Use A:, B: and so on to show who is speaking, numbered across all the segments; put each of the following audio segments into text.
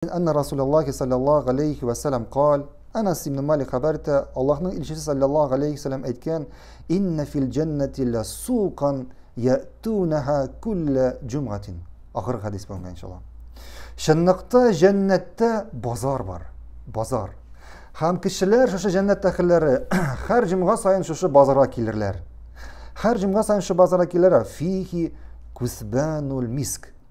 A: Әннә Расуләллаһи салләллаһу галәйһи вә сәләм каль, Әнәс ибн Малик хәбәр итә, Аллаһның илчесе салләллаһу галәйһи вә сәләм әйткән, Иннә фил җәннәти лә сукан ятунәһә күллә җумгатин. Ахыргы хәдис бүгенгә иншалла. Чынлыкта җәннәттә базар бар. Базар. Һәм кешеләр шушы җәннәт әхелләре һәр җомга саен шушы базарга килерләр. Һәр җомга саен шушы базарга килерләр. Фихи кусбанул миск.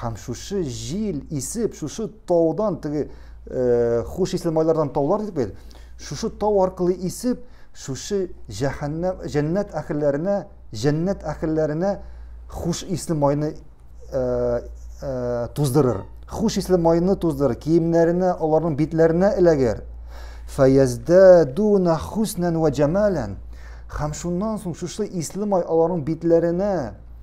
A: Һәм шушы җил исеп, шушы таудан, теге хуш исле майлардан таулар дидек бит, шушы тау аркылы исеп, шушы җәһәннәм, җәннәт әхелләренә, җәннәт әхелләренә хуш исле майны туздырыр. Хуш исле майны туздырыр, киемнәренә, аларның битләренә эләгер. Фәяздәдуна хуснән вә җамалән. Һәм шуннан соң шушы исле май аларның битләренә,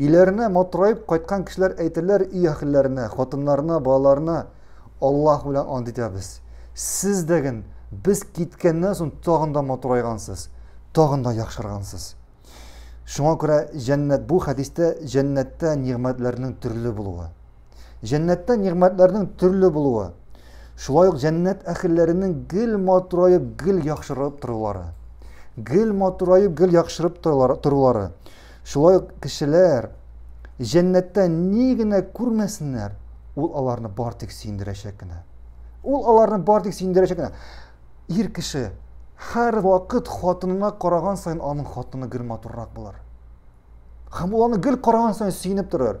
A: Өйләренә матураеп кайткан кешеләр әйтерләр өй әхелләренә, хатыннарына, балаларына, Аллаһ белән ант итәбез, сез дәген без киткәннән соң тагын да матурайгансыз, тагын да яхшыргансыз. Шуңа күрә җәннәт бу хәдистә җәннәттә нигъмәтләрнең төрле булуы. Җәннәттә нигъмәтләрнең төрле булуы. Шулай ук җәннәт әхелләренең гел матураеп, гел яхшырып торулары. Гел матураеп, гел яхшырып торулары. Шулай ук кешеләр җәннәттә ни генә күрмәсеннәр, ул аларны бар тик сөендерәчәк кенә. Ул аларны бар тик сөендерәчәк кенә. Ир кеше һәр вакыт хатынына караган саен аның хатыны гел матуррак булыр. Һәм ул аны гел караган саен сөенеп торыр.